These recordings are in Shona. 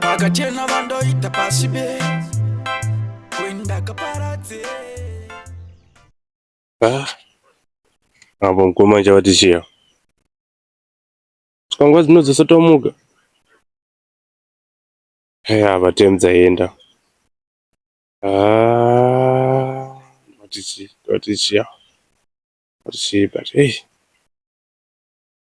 vakachena vandoita pasi be kuindakaparadze apo mkoma nje vati chiya kangwa dzino dzosotomuka eya vatemdza yenda vati chiya vati chiya vati chiya but hey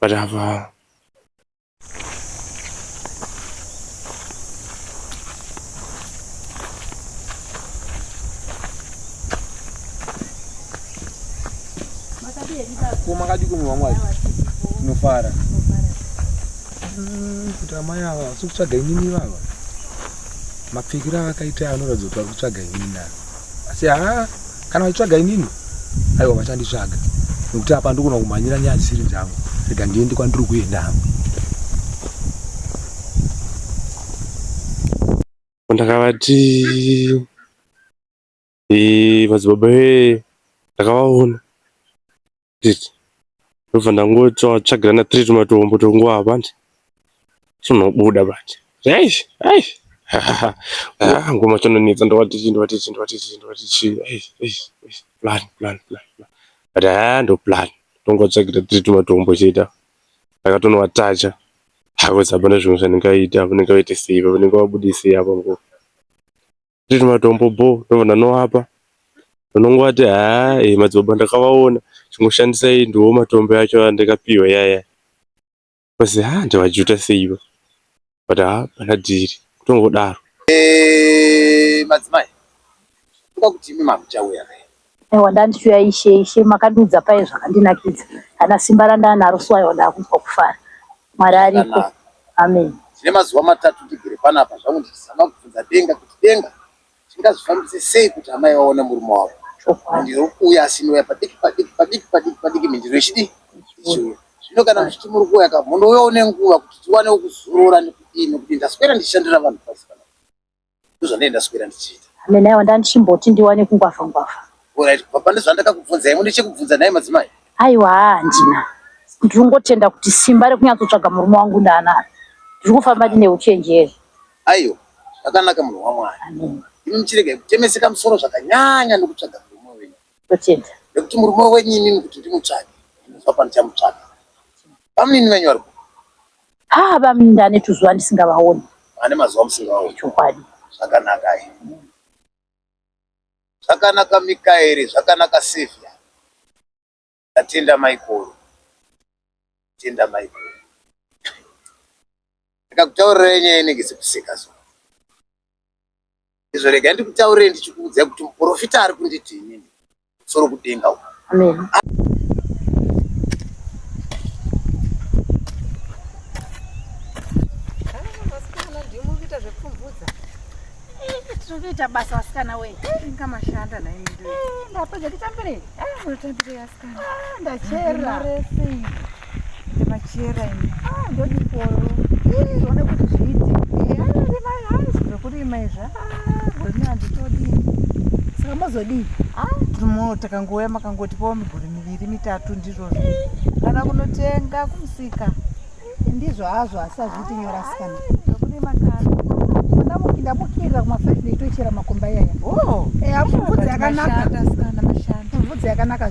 but apa kumakadii kumwe vamwe vacho kunofara mm, kuti amai ava vasikutsvaga inini vava mapfekiro avakaita anoratidza kuti vari kutsvaga inini ava asi haa kana vachitsvaga inini aiwa vachanditsvaga nekuti apa ndikona kumhanyira nyaya dzisiri dzangu rega ndiende kwandiri kuenda hangu ndakavati madzibaba vee ndakavaona ndobva ndangotsvagirana tiri tumatombo twonguva apa tunobuda manje eish eish ngoma chanonetsa ndovati chii ndovati chii ndovati chii ndovati chii eish eish eish plan plan plan plan but haa ah, ndoplan tongotsvagira tiri tumatombo chete ndakatonowatacha hakuzi hapana zvimwe zvandingaita vanenge vaite sei vanenge vabudisei apa ngo Tine matombo bho ndobva ndanovapa vanongovati haa eh, madzibaba ndakavaona chingoshandisai ndiwo matombo acho andakapiwa yaya basi haa ndavajuta seiva but haa pana dhiri kutongodaro eh, madzimai toda kuti imi makuchauya Aiwa ndandishuya ishe ishe makandiudza paye zvakandinakidza kana simba randanaro so aiwa ndakunzwa kufara mwari ariko amen tine mazuva matatu ndigere panapa zvangu ndichizama kubvunza denga kuti denga tingazvifambise sei kuti amai vaone murume wavo ndiro kuuya asinouya padiki padiki padiki padiki padiki mindiro ichidi ichiuya zvino kana muchiti muri kuuya ka munouyawo nenguva kuti tiwanewo kuzorora nekudii nekuti ndaswera ndichishandira vanhu pasi ndozvandee ndaswera ndichiita amen aiwa ndandichimboti ndiwane kungwavha ngwavha orit baba ndozvandakakubvunzai mune chekubvunza nhai madzimai aiwa haa handina ndiri kungotenda kuti simba rekunyatsotsvaga murume wangu ndaanaro ndiri kufamba ndine uchenjeri aiwa zvakanaka munhu wamwari amen imi muchiregai kutemeseka musoro zvakanyanya nokutsvaga murume wenyu totenda nekuti murume wenyu imimi kuti ndimutsvage ndinozva pandichamupsvaga bamunini venyu vari ku haa bamnda ane tuzuva ndisingavaoni ane mazuva musingaoni chokwadi zvakanaka ayi zvakanaka mikaeri zvakanaka sevia tatenda maikoro tenda maikoro ndakakutaurira nyaya inenge sekuseka so Izvo regai ndikutaurire ndichikuudzai kuti muprofita ari kunditi inini soro kudenga uko. Amen. Zvinoita basa vasikana wee. Inga mashanda na imi ndoo. Ndapedza kutambirei? Ah, mutambirei asikana. Ah, ndachera. Rese. Machera ini. Ah, ndodi polo. Ii, zvone kuti zviiti. Ii, ano ndi mai hanzi zvekurima izvi. Ah, gurimi handitodi. Saka mozodii? Ah, timo takangouya makangoti pawo miguri miviri mitatu ndizvozvo. Kana kunotenga kumusika. Ndizvo hazvo asi hazviiti nyora sikana. Zvekurima kana. Ndamukira kuma 5 ndoitochera makomba iyaya. Oh, eh, hamubvudzi yakanaka. Mashanda sikana mashanda. Mubvudzi yakanaka.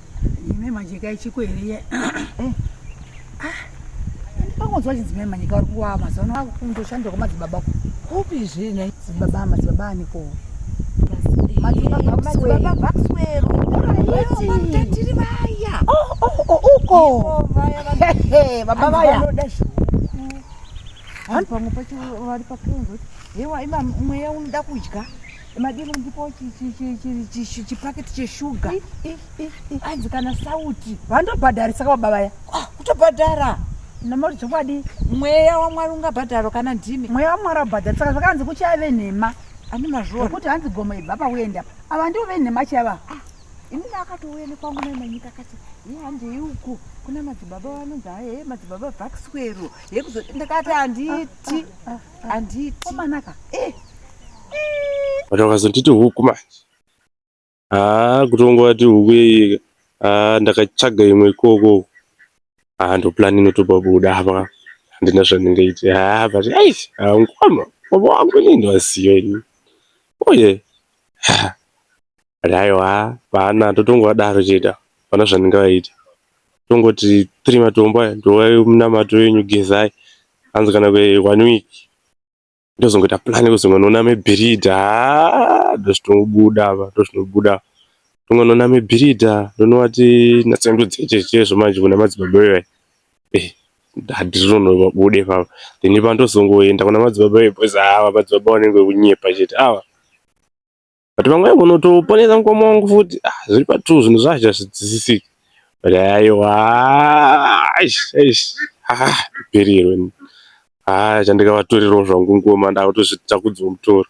Ine majeka ichiko here iye? Eh. Ah. Ndikangonzwa chinzi mai manyika vari kuwa mazano ako kundoshanda kwamadzibaba ko. Kupi zvine? Dzibaba madzibaba ani ko? Madzibaba madzibaba vakuswero. Tiri vaya. Oh oh oh uko. Baba vaya. Vanoda zvihuku. Vanhu pamwe pacho vari pakunzwa. Hewa ima mweya unoda kudya. madini ndipo chipaketi cheshuga anzi kana sauti vandobhadharisa kava bavaya ah, kutobhadhara namauti chokwadi mweya wamwari ungabhadharo kana ndimi mweya wamwari abhadhari saka zvakanzi kuchave nhema ani mazvua ekuti hanzi gomo ibva pauenda ava ndivo venhema chava ah, ini ndakatouya nekwangu nemanyika kati ye handei uku kuna madzibaba vanonzi haye madzibaba vakiswero yekuzo ndakati handiti ah, Anditi. Komanaka. Eh. But wakazonditi huku manje. Ah, kutongova ti huku yeyeka. Ah, ndakatsvaga imwe ikoko. Ah, ndo plan inotopa buda apa. Handina zvandingaite. Ah, but eish, ah, ngoma. Baba wangu ni ndo asiyo ini. Oh yeah. Aiwa hapana totongovadaro chete ava hapana zvatinenge vaita tongoti tiri matombo aya tovai munamato wenyu gezai hanzi kana kwe one week tozongoita plan yekuti tononame bhiridha haa ndozvitongobuda apa ndozvinobuda apa tongononame bhiridha tonovati natsandudzei chete chaizvo manje kuna madzibaba ivai eh handizvinonobuda ipapa then ipapa ndozongoenda kuna madzibaba ivai because haa madzibaba vanenge vekunyepa chete ava. but vamwe vanotoponesa mukoma wangu futi ah, zviri patrue zvinhu zvacho hazvidzisisiki but aiwa ndiperirwe haa chandikavatorerawo zvangu ngoma ndakutozviita kudziwa mutoro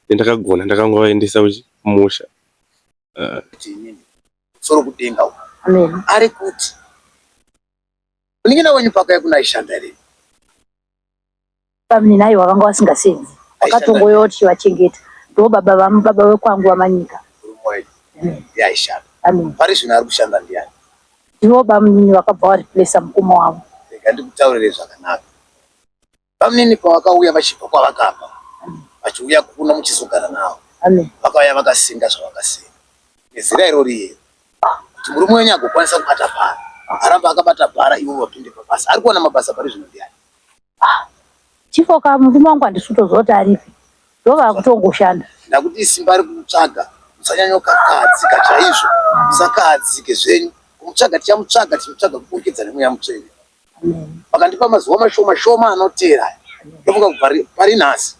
ndakagona ndakangovaendesa kumusha ah. soro kudenga ari kuti unenge nawenyu pako yakunaishanda here Bamunini ayo vakanga vasingasenzi vakatongoya kuti chivachengeta ndo baba vamu baba vekwangu vamanyika yaishanda hmm. pari zvino ari kushanda ndiyani ndivo bamunini vakabva variplesa mukoma wavo rega ndikutaurire zvakanaka bamunini pavakauya vachibva kwavakabva hmm. vachiuya kuno muchizogara navo vakauya vakasinga zvavakasinga nezira irori iyero kuti murume wenyu agokwanisa kubata bhara aramba akabata bhara ivo vapinde pabasa ari kuona mabasa pari zvino ndiyani Ah, chifo ka murume wangu handisi kutoziva kuti aripi ndovava kutongoshanda ndakuti isimba ari kumutsvaga musanyanyokakahadzika chaizvo musakahadzike zvenyu kumutsvaga tichamutsvaga tichimutsvaga kuburikidza nemweya mutsvene vakandipa mazuva mashoma shoma anoteera ndofunga kuti pari- pari nhasi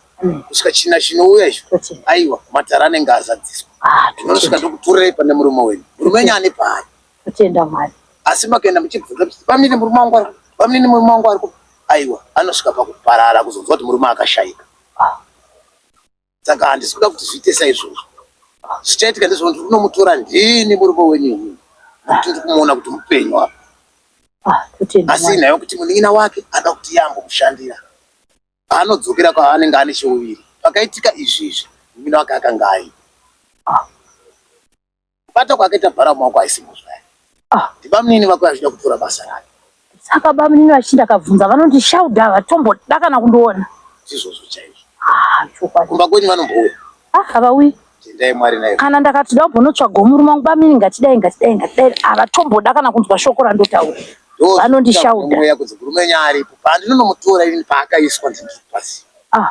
kusvika china chinouya izvo aiwa matara anenge azadziswa Ah, ndinosvika ndokuturepa nemurume wenyu murume wenyu ane paari Kutenda Mwari. Asi makaenda muchibvunza kuti pamene murume wangu ari pamene murume wangu ari aiwa anosvika pakuparara kuzonzwa kuti murume akashaika. Ah. Saka handisi kuda kuti zviite saizvozvo. Ah. Zvichaitika ndezvokuti unomutora ndini murume wenyu uyu. Kuti uri kumuona kuti mupenyu apa. Ah, Asi inayo kuti munin'ina wake anoda kuti iye ambomushandira. Anodzokera kwaanenge ane cheuviri. Pakaitika izvi izvi munin'ina wake akanga aipa. Kubata kwakaita Bharamu wako haisi mhosva yake. Ah. Ndibamnini vako vachida kutora basa rake. Saka bamnini vachinda akabvunza vanonzi Shauda havatomboda kana kundiona. Ndizvozvo chaizvo. Ah, chokwadi. Kumba kwenyu vanombouya. Ah, havauyi. Tendai Mwari naye. Kana ndakati da ubonotsvaga murume wangu bamnini ngatidai ngatidai ngatidai havatomboda kana kunzwa shoko randotaura. Vanonzi Shauda. Mweya kunzi murume wenyu aripo. Pandinonomutora ini paakaiswa ndinzi pasi. Ah.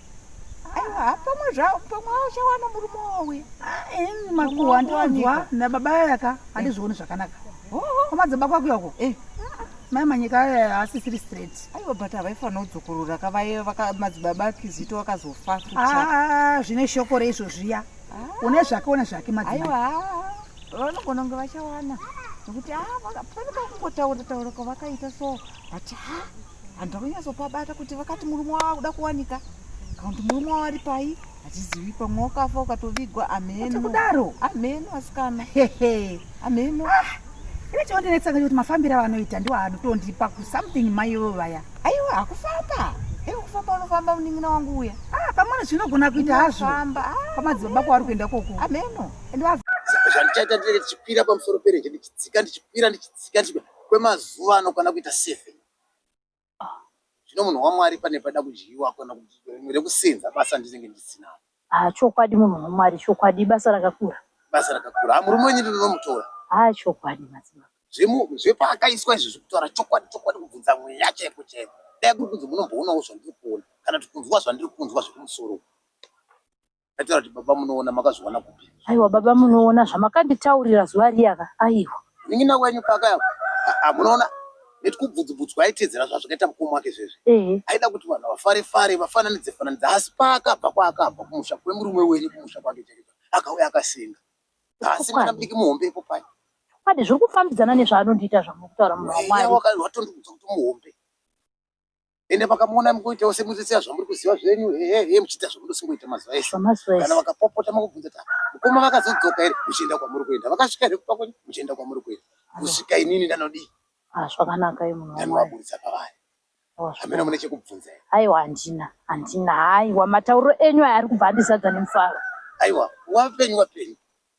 aiwa pamwe zvao pamwe auchawana murume wauya makuwa ndonzwa nababa aya ka handizvioni zvakanaka kwamadzaba kwakuya uko eh. mai manyika aya haasisiri straight aiwa but havaifanira kudzokorora ka vaye madzibaba akizito vakazofa futi ah, zvine shoko reizvo zviya ah. une zvake une zvake madzibaba vanogona kunge vachawana nokuti ah, pane pakungotaura taura kwavakaita so but ha ah, Vanhu takunyatsopabata kuti vakati murume wavo akuda kuwanika kana kuti murume wavo ari pai hatizivi pamwe wakafa ukatovigwa ameno kudaro ameno asikana ameno ah, ine chondinetsanga chekuti mafambiro avanoita ndiwo anotondipa kusomething maivo vaya aiwa hakufamba iwe kufamba unofamba munin'ina wangu uya ah, pamwana zvinogona kuita hazvo pamadzibaba kwawari kuenda koko ameno and zvandichaita ndinenge ndichikwira pamusoro perenje ndichidzika ndichikwira ndichidzika kwemazuva anokwana kuita seven zvino munhu wamwari pane pada kudyiwa kana kuti rimwe rekusenza basa ndinenge ndisina ah chokwadi munhu wamwari chokwadi ibasa rakakura basa rakakura ah murume wenyu ndinomutora ah chokwadi madzimai zvemu zvepaakaiswa izvi zvekutaura chokwadi chokwadi kubvunza mweya chaiko chaiko dai kuri kunzi munomboonawo zvandiri kuona kana kuti kunzwa zvandiri kunzwa zvekumusoro Ndataura kuti baba munoona makazviwana kupi? Aiwa baba munoona zvamakanditaurira zuva riyaka. Aiwa. Munin'ina wenyu paka ah, munoona neti kubvudzubvudzwa aitedzera zvazvakaita mukoma wake zvezvi. Ehe. Aida kuti vanhu vafare fare vafananidze fananidza asi paakabva kwaakabva kumusha kwemurume wenyu kumusha kwake chake akauya akasenga. Asi mwana mudiki muhombe ipo pai. Kwadi zviri kufambidzana nezvaanondiita zvamuri kutaura munhu wamwari. Watondiudza kuti muhombe. ende makamuona mukuitawo semuzitsiya zvamuri kuziva zvenyu hehe muchiita zvamunosingoita mazuva ese kana vakapopota makubvunza ta mukoma vakazodzoka here muchienda kwamuri kuenda vakasvika here kupa kwenyu muchienda kwamuri kuenda kusvika inini ndanodii ah, zvakanaka ndanovaburitsa pavari oh, hamena mune chekubvunza here aiwa handina handina haiwa matauriro enyu aya ari kubva andizadza nemufaro aiwa wapenyu wapenyu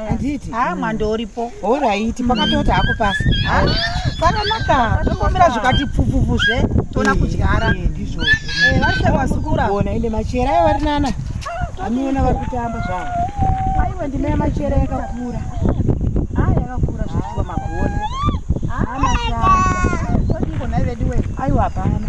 handiti haa ah, mwando uripo horaiti mm. pakatoti hako pasi ah, pakanaka tokomera zvikati pfupfupu zve toona eh, kudyara eh, ndizvozvo eh, vasekwasikura ona ende machera ayo vari nana aniona vari kutamba zvavo aiwe ndima yamachera yakakura haa ah, yakakura zvichiwa magona haa mashaya todingonai veduwe aiwa hapana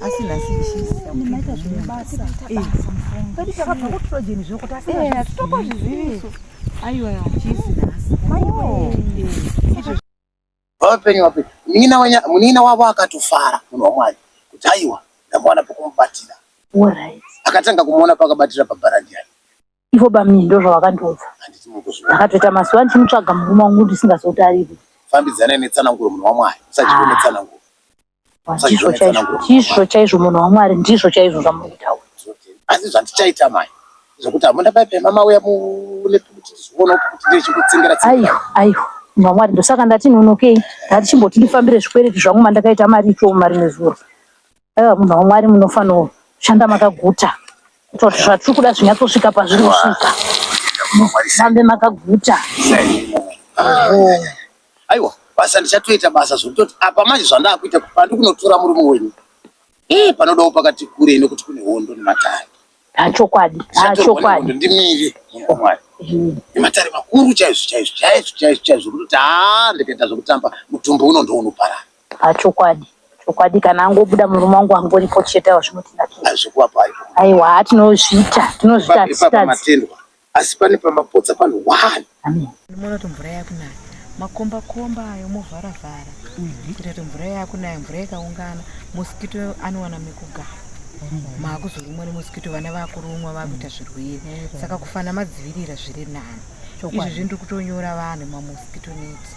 asi nhasi ichiimaita zvemabasa kwedu takabva kutrojeni zvoko tasitokwa zviziviso aiwa chisi nhasi vapenyu vapenyu munina wavo akatofara munhu wamwari kuti aiwa ndamwana pokumubatira akatanga kumuona pakabatira pabharandiani ivo bamnini ndozvavakandiudza ndakatoita mazuva ndichimutsvaga murume wangu ndisingazotariri fambidzanai netsananguro munhu wamwari usachizvo ah. netsananguro ndizvo chaizvo munhu wamwari ndizvo chaizvo zvamuri kutaura asi zvandichaita mai zvekuti hamuna paipema mauya muneoona kuti ndechikutsengera aiwa aiwa munhu wamwari ndosaka ndati nonokei ndati chimboti ndifambire zvikwereti zvangu mandakaita mari ichomu mari nezuro Aiwa munhu waMwari munofanira kushanda makaguta kuitira kuti zvatiri kuda zvinyatsosvika pazviri kusvika. Musambe makaguta. aiwa basa ndichatoita basa zvokutoti apa manje zvandakuita kuti pandi kunotora murume wenyu ee panodawo pakati kurei nokuti kune hondo nematare Achokwadi, Ndichatorwa achokwadi. nehondo ndimire munhu wamwari Mm. nematare makuru chaizvo chaizvo chaizvo chaizvo chaizvo zvokutoti haa ndikaita zvokutamba mutumbi uno ndounoparara Ah, chokwadi chokwadi kana angobuda murume wangu angoripo chete awa zvinotinakira hazvikuvapo haiko aiwa haa tinozviita tinozviita Ipapo hatitadzi pamatendwa asi pane pamapotsa pano one Amen. ndimoona kuti mvura yakunaya makomba komba ayo movhara vhara kuita kuti mvura yakunaya mvura ikaungana mosikito anowana mekugara maakuzorumwa nemosikito vana vakurumwa vakuita zvirwere saka kufana madzivirira zviri nani izvozvi ndiri kutonyora vanhu mamosikito neti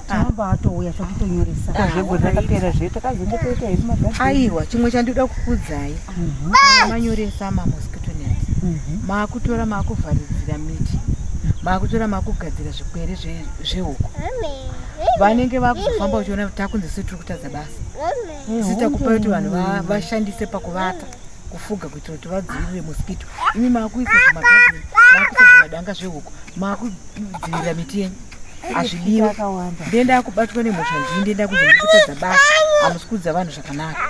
tinobva atouya zvakutonyoresa ah, zvego zvakapera zve takazenge toita hedu magazini aiwa chimwe chandinoda kukudzai mhm. manyoresa mamosquito net mhm. maakutora maakuvharidzira miti maakutora maakugadzira zvikwere zvehuku vanenge vakuzofamba uchiona kuti takunzi si tiri kutadza basa eh, sita kupa kuti vanhu vashandise pakuvata kufuga kuitira kuti vadzivirire mosquito imi maakuisa zvimagadini maakuisa zvimadanga zvehuku maakudzivirira miti yenyu hazvidiwe ndiye ndakubatwa nemhosva ndii ndiye ndakunzi muri kutadza basa hamusi kuudza vanhu zvakanaka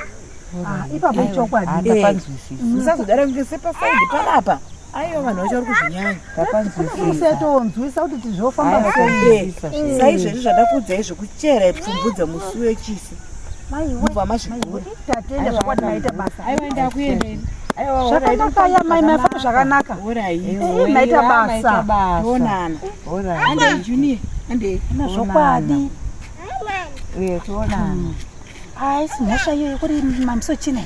ah, ipapo ichokwadi eh, musazodara kunge sepasaidi panapa aiwa vanhu vacho vari kuzvinyanyausetoonzwisa kuti tizvofamba sei saizvezvi zvandakuudzai zvekuchera ipfumbu dzemusi wechisi mubva mazvigura tatenda zvakwadi maita basa aiwa ndakuendei zvakanaka ya mai mafamba zvakanaka maita basa tonana zvokwadi toonana haisi mhosva iyoyo kuri mambiso china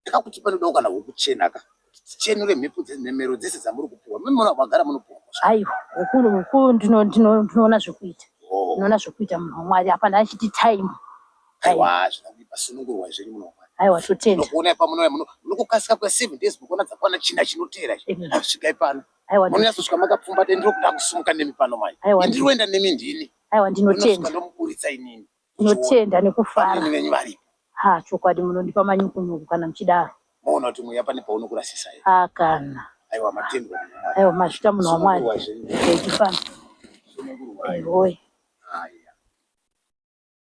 kakuti panodawo kana wokuchena ka tichenure mhepo dzenhemero dzese dzamuri kupiwa mimona kwagara munopiwa aiwa ukuru ukuru ndinoona zvekuita oh. ndinoona zvekuita munhu wamwari hapana achiti time aiwa hazvina kuipa sunungurwa zvenyu muno mwari aiwa totenda nokuona ipa munouya muno nokukasika kwe seven days mukuona dzakwana china chinoteera chi Amen. hazvisvikai pano aiwa ndi- munonyatsotsvika makapfumbata ndiri kuda kusimuka nemi pano manje Aiwa, ndiri kuenda nemi ndini aiwa Munosvika ndinotenda ndomuburitsa inini ndinotenda Vanhu nekufara venyu varipo ha chokwadi munondipa manyukunyuku kana muchidaro moona kuti mweya pane paunokurasisa here ha kana aiwa matendwa Mwari. aiwa mazvita munhu wamwari Sunungurwa zvenyu. etifana Sunungurwa. aiwoye Haya.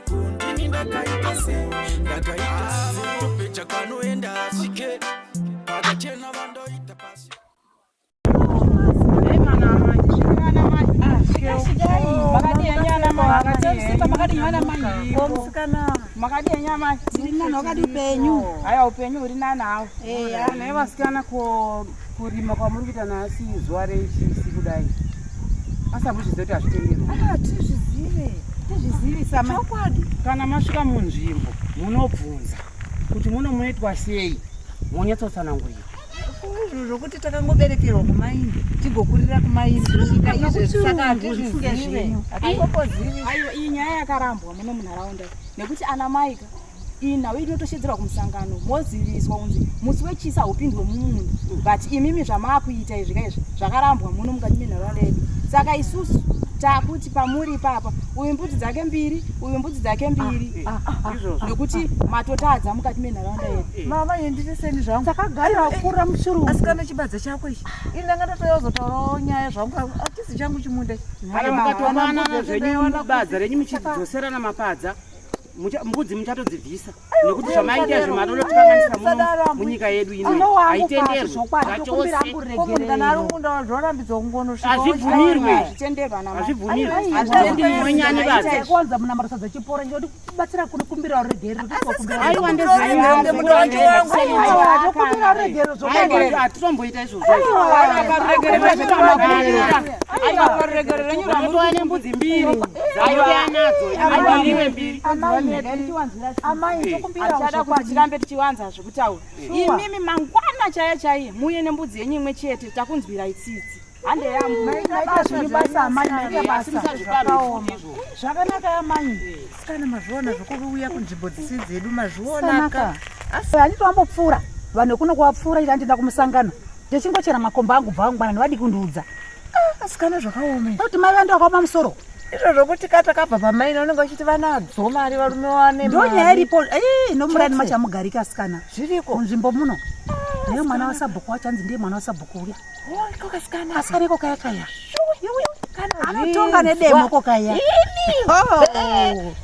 kundini ndakaipa se ndakaipa sepecha kanoenda asike pakachena vandoita pasi makadii nyama tiri nani wakadi upenyu haya upenyu huri nani hawo naivasikana ko Kurima kwamuri kuita nhasi zuva rechisi kudai asambuzviziva kuti hazvitenderwa ah, tizvizive tizvizivisa chokwadi kana masvika munzvimbo munobvunza kuti muno munoitwa sei monyatsotsanangurira izvo zvokuti takangoberekerwa kumaini tigokurira kumaini kusvika izvezvi saka hatizvizive hatipopozivi aiwa iyi nyaya yakarambwa muno munharaunda nekuti ana maika ina uye tinotoshedzerwa kumusangano moziviswa kunzi musi wechisa haupindwe mumunhu but imimi zvamaakuita izvi ka izvi zvakarambwa muno mukati menharaunda yedu saka isusu takuti pamuri ipapa uyu mbudzi dzake mbiri uyu mbudzi dzake mbiri ah, ah, ah, nokuti matotadza mukati menharaunda yedu eh. mama yenditiseni zvangu takagara eh, kura mushuru asi kana chibadza chako ichi ini ndanga ndatouya kuzotaurawo nyaya zvangu atisi changu chimunda kana mukatomanana zvenyu badza renyu muchidzoserana mapadza mbudzi muchatodzibvisa nekuti zvamaita izvi matolotikanganisa muno munyika yedu inoaitendeazvibvumirwe azvibvumirwenyani vaaiwandezeaatitomboita izvozvo tirambe tichiwanza zvekutaura imimi mangwana chaiye chaiye muye nembudzi yenyu imwe chete takunzwirai tsitsi zvakanaka yamai sikana mazviona zvokuuya kunzvimbo dzisi dzedu mazvionaka asi handiti wambopfuura vanhu kuno kuwapfuura ita ndinda kumusangano ndichingochera makomba angu bva vangwana nevadiki kundiudza ah, asikana zvakaoma kuti mai vandi vakaoma musoro izvo zvokuti ka takabva pamaina unenge vachiti vanadzo mari varume wane ndonyaya iripo nomurani machamugarika asikana zviriko munzvimbo muno ah, neye mwana wasabhuku wachanzi ndiye mwana wasabhuku uya asikana asikana iko kaya kaya anotonga nedemo ko kaya oh.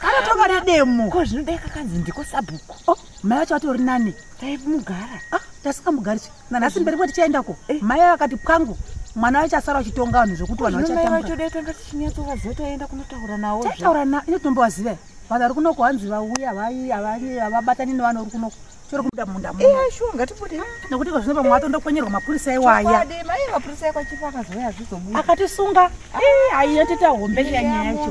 anotonga nedemo ko zvinodai kakanzi ndiko sabhuku oh. mai acho atori nani taimugara ah, tasikamugarisu nanhasi mberi kwati chaendako eh. mai akati pwangu mwana wacho asara achitonga vanhu zvekuti vanhu vachatambaatanga tichinyatsovaziva taenda kunotaura nawo taitaura na ine tinombovaziva vanhu vari kunoko hanzi vauya vai avai avabatani nevanhu uri kunoko chori kuda munda mu eh shuwa ngatibude nekuti kwa zvino pamwe atondokwenyerwa mapurisa iwaya mai mapurisa ekwachipa akazoya zvizobuda akatisunga eh aiyatita hombe nyaya yacho